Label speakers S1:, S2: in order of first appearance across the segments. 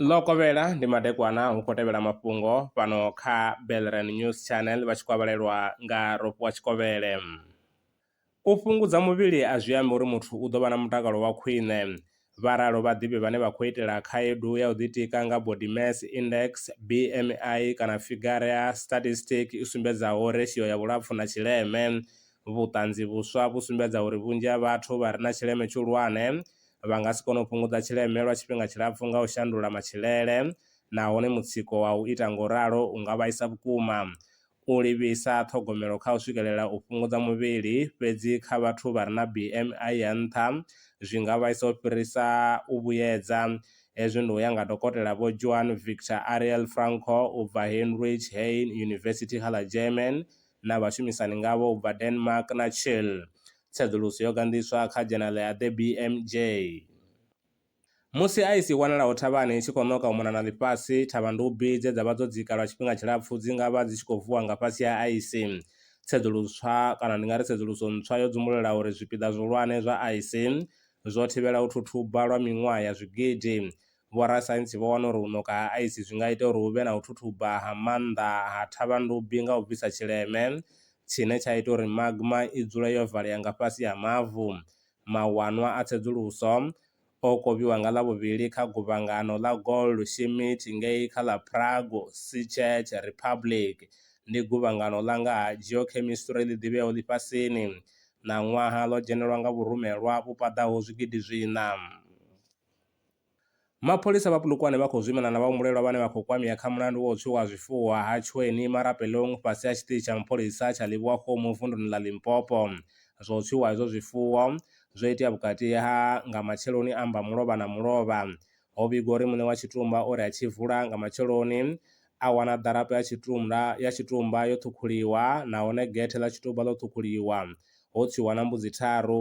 S1: ḽokovhela ndi madekwana hu khou tevhela mafhungo fhano kha belran news channel vha tshi kwavhalelwa nga ropiwa tshikovhele u fhungudza muvhili a zwi ambi uri muthu u ḓo vha na mutakalo wa khwine vha ralo vhaḓivhi vhane vha khou itela khaedu ya u ḓitika nga body mass index bmi kana figure ya statistic i sumbedzaho ratio ya vhulapfu na tshileme Vhuṱanzi vhuswa vhu sumbedza uri vhunzhi ha vhathu vha re na tshileme tshihulwane vha nga si kone u fhungudza tshileme lwa tshifhinga tshilapfu nga u shandula matshilele nahone mutsiko wa u ita nga u ralo u nga vhaisa vhukuma. U livhisa ṱhogomelo kha u swikelela u fhungudza muvhili fhedzi kha vhathu vha re na BMI ya nṱha zwi nga vhaisa u fhirisa u vhuyedza. Hezwi ndi u ya nga Dokotela Vho Joan Victor Ariel Franco u bva Heinrich Heine University kha ḽa German na vhashumisani ngavho u bva Denmark na Chile. Tsedzuluso yo ganḓiswa kha dzhenala ya The BMJ. Musi aisi i wanalaho thavhani i tshi khou ṋoka u mona na ḽifhasi, thavhandubi dze dza vha dzo dzika lwa tshifhinga tshilapfu dzi nga vha dzi tshi khou vuwa nga fhasi ha aisi. Tsedzuluswa, kana ndi nga ri tsedzuluso ntswa yo dzumbulula uri zwipiḓa zwihulwane zwa aisi zwo thivhela u thuthuba lwa miṅwaha ya zwigidi, vhorasaintsi vho wana uri u ṋoka ha aisi zwi nga ita uri hu vhe na u thuthuba ha maanḓa ha thavhandubi nga u bvisa tshileme tshine tsha ita uri magma i dzule yo valea nga fhasi ha mavu. Mawanwa a tsedzuluso o kovhiwa nga Ḽavhuvhili kha guvhangano ḽa Goldschmidt ngei kha ḽa Prague, Czech Republic. Ndi guvhangano ḽa nga ha geochemistry ḽi ḓivheaho ḽifhasini. Ṋaṅwaha ḽo dzhenelwa nga vhurumelwa vhu paḓaho zwigidi zwiṋa. Mapholisa vha Polokwane vha khou zwimana na vhahumbulelwa vhane vha khou kwamea kha mulandu wa u tswiwa ha zwifuwo ha Tshweni Marapelong fhasi ha tshiṱitshi tsha mapholisa tsha Leboa-Kgomo vunduni ḽa Limpopo. Zwa u tswiwa hezwo zwifuwo, zwo itea vhukati ha nga matsheloni a Mbamulovha na Mulovha. Ho vhigwa uri muṋe wa tshitumba o ri a tshi vula nga matsheloni, a wana ḓarapo ya tshitumba ya tshitumba yo ṱhukhuliwa nahone gethe ḽa tshitumba ḽo ṱhukhuliwa, ho tswiwa na mbudzi tharu.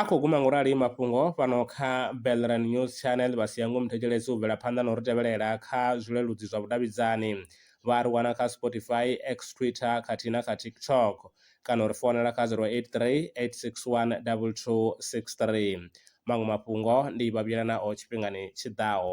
S2: A khou guma
S1: ngurali mafhungo fhano kha Belran News Channel vha sia ngomu thetshelesi u bvela phanḓa na u ri tevhelela kha zwileludzi zwa vhudavhidzani. Vha a ri wana kha Spotify, X, Twitter khathihi na kha TikTok. Kana u ri founela kha 0838612263. Maṅwe mafhungo ndi vha vhuyela nao tshifhingani tshi ḓaho.